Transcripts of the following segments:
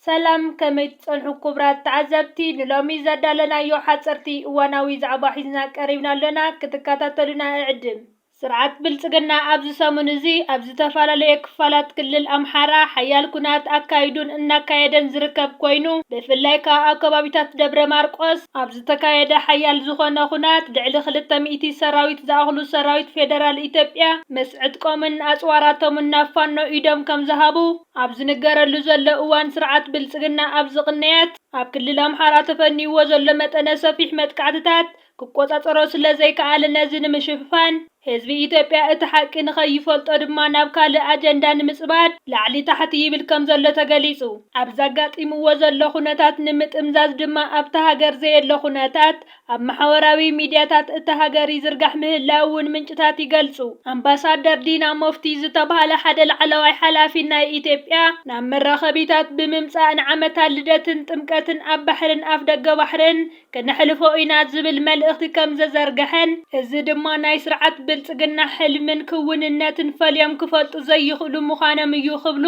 ሰላም ከመይ ትጸንሑ ኩቡራት ተዓዘብቲ ንሎሚ ዘዳለናዮ ሓጸርቲ እዋናዊ ዛዕባ ሒዝና ቀሪብና ኣሎና ክትካታተሉና እዕድም። ስርዓት ብልጽግና ኣብዚ ሰሙን እዚ ኣብ ዝተፈላለየ ክፋላት ክልል ኣምሓራ ሓያል ኩናት ኣካይዱን እናካየደን ዝርከብ ኮይኑ ብፍላይ ከኣ ኣብ ከባቢታት ደብረ ማርቆስ ኣብ ዝተካየደ ሓያል ዝኾነ ኩናት ልዕሊ ክልተ ሚእቲ ሰራዊት ዝኣኽሉ ሰራዊት ፌደራል ኢትዮጵያ ምስ ዕጥቆምን ኣጽዋራቶምን ናብ ፋኖ ኢዶም ከምዝሃቡ ኣብ ዝንገረሉ ዘሎ እዋን ስርዓት ብልፅግና ኣብዚ ቅንያት ኣብ ክልል ኣምሓራ ተፈኒይዎ ዘሎ መጠነ ሰፊሕ መጥቃዕትታት ክቆፃፀሮ ስለዘይከኣለ ነዚ ንምሽፍፋን ህዝቢ ኢትዮጵያ እቲ ሓቂ ንከይፈልጦ ድማ ናብ ካልእ ኣጀንዳ ንምፅባድ ላዕሊ ታሕቲ ይብል ከምዘሎ ተገሊፁ። ኣብዚ ኣጋጢምዎ ዘሎ ኩነታት ንምጥምዛዝ ድማ ኣብታ ሃገር ዘየለ ኩነታት ኣብ ማሕበራዊ ሚድያታት እታ ሃገር ይዝርጋሕ ምህላዉ'ውን ምንጭታት ይገልጹ። ኣምባሳደር ዲና ሞፍቲ ዝተብሃለ ሓደ ላዕለዋይ ሓላፊ ናይ ኢትዮጵያ ናብ መራኸቢታት ብምምጻእ ንዓመታ ልደትን ጥምቀትን ኣብ ባሕርን ኣፍደገ ባሕርን ክነሕልፎ ኢና ዝብል መልእኽቲ ከምዘዘርገሐን እዚ ድማ ናይ ስርዓት ብልጽግና ሕልምን ክዉንነትን ፈልዮም ክፈልጡ ዘይኽእሉ ምዃኖም እዩ ክብሉ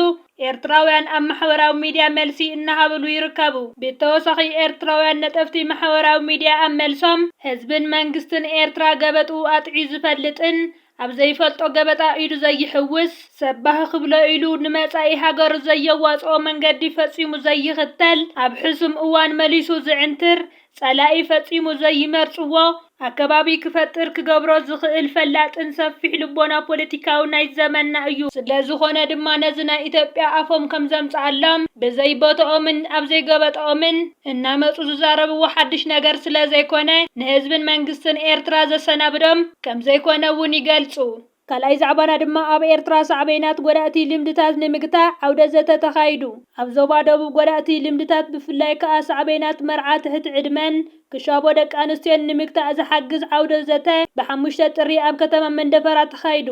ኤርትራውያን ኣብ ማሕበራዊ ሚድያ መልሲ እናሃብሉ ይርከቡ። ብተወሳኺ ኤርትራውያን ነጠፍቲ ማሕበራዊ ሚድያ ኣብ መልሶም ህዝብን መንግስትን ኤርትራ ገበጥኡ ኣጥዕዩ ዝፈልጥን ኣብ ዘይፈልጦ ገበጣ ኢዱ ዘይሕውስ፣ ሰብ ባህ ክብሎ ኢሉ ንመጻኢ ሃገሩ ዘየዋጽኦ መንገዲ ፈጺሙ ዘይኽተል፣ ኣብ ሕሱም እዋን መሊሱ ዝዕንትር፣ ጸላኢ ፈጺሙ ዘይመርጽዎ ኣከባቢ ክፈጥር ክገብሮ ዝኽእል ፈላጥን ሰፊሕ ልቦና ፖለቲካውን ናይ ዘመንና እዩ። ስለዝኾነ ድማ ነዚ ናይ ኢትዮጵያ ኣፎም ከምዘምጽኣሎም ብዘይ ቦትኦምን ኣብ ዘይገበጠኦምን እናመጹ ዝዛረብዎ ሓድሽ ነገር ስለዘይኮነ ንህዝብን መንግስትን ኤርትራ ዘሰናብዶም ከምዘይኮነ'ውን ይገልጹ። ካልኣይ ዛዕባና ድማ ኣብ ኤርትራ ሳዕቤናት ጎዳእቲ ልምድታት ንምግታእ ዓውደ ዘተ ተኻይዱ። ኣብ ዞባ ደቡብ ጎዳእቲ ልምድታት ብፍላይ ከኣ ሳዕቤናት መርዓ ትሕቲ ዕድመን ክሻቦ ደቂ ኣንስትዮን ንምግታእ ዝሓግዝ ዓውደ ዘተ ብ ሓሙሽተ ጥሪ ኣብ ከተማ መንደፈራ ተኻይዱ።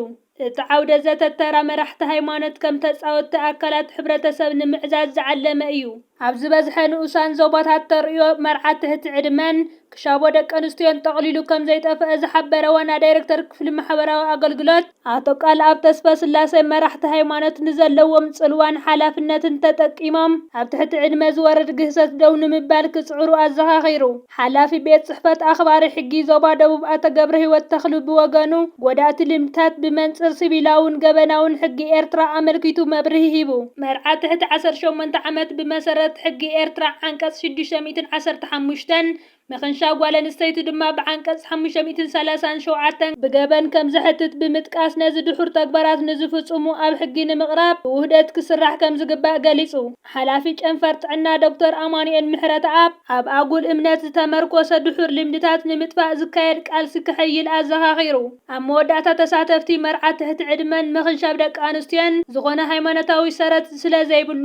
እቲ ዓውደ ዘተ ተራ መራሕቲ ሃይማኖት ከም ተጻወቲ ኣካላት ሕብረተሰብ ንምዕዛዝ ዝዓለመ እዩ። ኣብ ዝበዝሐ ንኡሳን ዞባታት ተርእዮ መርዓ ትሕቲ ዕድመን ክሻቦ ደቂ ኣንስትዮን ጠቕሊሉ ከም ዘይጠፍኣ ዝሓበረ ዋና ዳይረክተር ክፍሊ ማሕበራዊ ኣገልግሎት ኣቶ ቃልኣብ ተስፈስላሴ፣ መራሕቲ ሃይማኖት ንዘለዎም ጽልዋን ሓላፍነትን ተጠቂሞም ኣብ ትሕቲ ዕድመ ዝወርድ ግህሰት ደው ንምባል ክጽዕሩ ኣዘኻኺሩ። ሓላፊ ቤት ፅሕፈት ኣኽባሪ ሕጊ ዞባ ደቡብ ኣቶ ገብረሂወት ተኽሉ ብወገኑ፣ ጎዳእቲ ልምድታት ብመንፅር ሲቪላውን ገበናውን ሕጊ ኤርትራ ኣመልኪቱ መብርሂ ሂቡ። መርዓ ትሕቲ ዓሰርተ ሸሞንተ ዓመት ብመሰረት ሕጊ ኤርትራ ዓንቀፅ ሽዱሽተ ሚእትን ዓሰርተ ሓሙሽተን፣ ምኽንሻብ ጓል ኣንስተይቲ ድማ ብዓንቀፅ ሓሙሽተ ሚእትን ሰላሳን ሸውዓተን ብገበን ከምዘሕትት ብምጥቃስ ነዚ ድሑር ተግባራት ንዝፍፁሙ ኣብ ሕጊ ንምቕራብ ብውህደት ክስራሕ ከምዝግባእ ገሊፁ። ሓላፊ ጨንፈር ጥዕና ዶክተር ኣማኑኤል ምሕረተኣብ፣ ኣብ ኣጉል እምነት ዝተመርኮሰ ድሑር ልምድታት ንምጥፋእ ዝካየድ ቃልሲ ከሐይል ኣዘኻኺሩ። ኣብ መወዳእታ ተሳተፍቲ፣ መርዓ ትሕቲ ዕድመን ምኽንሻብ ደቂ ኣንስትዮን ዝኾነ ሃይማኖታዊ ሰረት ስለዘይብሉ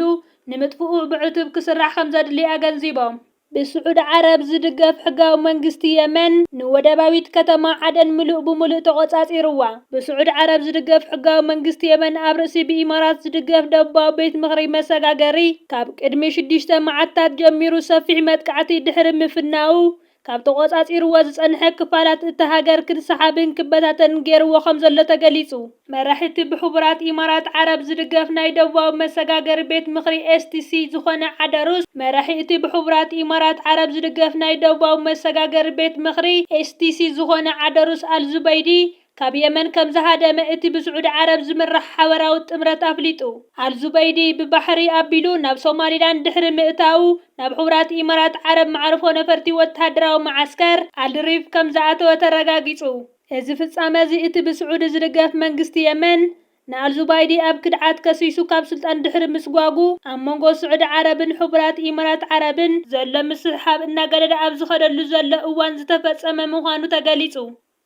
ንምጥፍኡ ብዕቱብ ክስራሕ ከምዘድሊ ኣገንዚቦም። ብስዑዲ ዓረብ ዝድገፍ ሕጋዊ መንግስቲ የመን ንወደባዊት ከተማ ዓደን ምሉእ ብምሉእ ተቖጻጺሩዋ። ብስዑዲ ዓረብ ዝድገፍ ሕጋዊ መንግስቲ የመን ኣብ ርእሲ ብኢማራት ዝድገፍ ደቡባዊ ቤት ምኽሪ መሰጋገሪ ካብ ቅድሚ ሽዱሽተ መዓልታት ጀሚሩ ሰፊሕ መጥቃዕቲ ድሕሪ ምፍናዉ ካብ ተቖጻጺሩዎ ዝጸንሐ ክፋላት እታ ሃገር ክንሰሓብን ክበታተንን ገይሩዎ ከምዘሎ ተገሊጹ። መራሒ እቲ ብሕቡራት ኢማራት ዓረብ ዝድገፍ ናይ ደቡባዊ መሰጋገሪ ቤት ምኽሪ፣ STC፣ ዝኾነ ዓደሩስ፣ መራሒ እቲ ብሕቡራት ኢማራት ዓረብ ዝድገፍ ናይ ደቡባዊ መሰጋገሪ ቤት ምኽሪ፣ STC፣ ዝኾነ ዓደሩስ ኣልዙበይዲ ካብ የመን ከምዝሃደመ እቲ ብስዑዲ ዓረብ ዝምራሕ ሓበራዊ ጥምረት ኣፍሊጡ። ኣልዙበይዲ ብባሕሪ ኣቢሉ ናብ ሶማሊላንድ ድሕሪ ምእታዉ ናብ ሕቡራት ኢማራት ዓረብ መዓርፎ ነፈርቲ ወተሃደራዊ መዓስከር ኣልሪፍ ከምዝኣተወ ተረጋጊጹ። እዚ ፍጻመ እዚ እቲ ብስዑዲ ዝድገፍ መንግስቲ የመን፣ ንኣልዙባይዲ ኣብ ክድዓት ከሲሱ ካብ ስልጣን ድሕሪ ምስጓጉ፣ ኣብ መንጎ ስዑዲ ዓረብን ሕቡራት ኢማራት ዓረብን ዘሎ ምስሕሓብ እናገደደ ኣብ ዝኸደሉ ዘሎ እዋን ዝተፈጸመ ምዃኑ ተገሊጹ።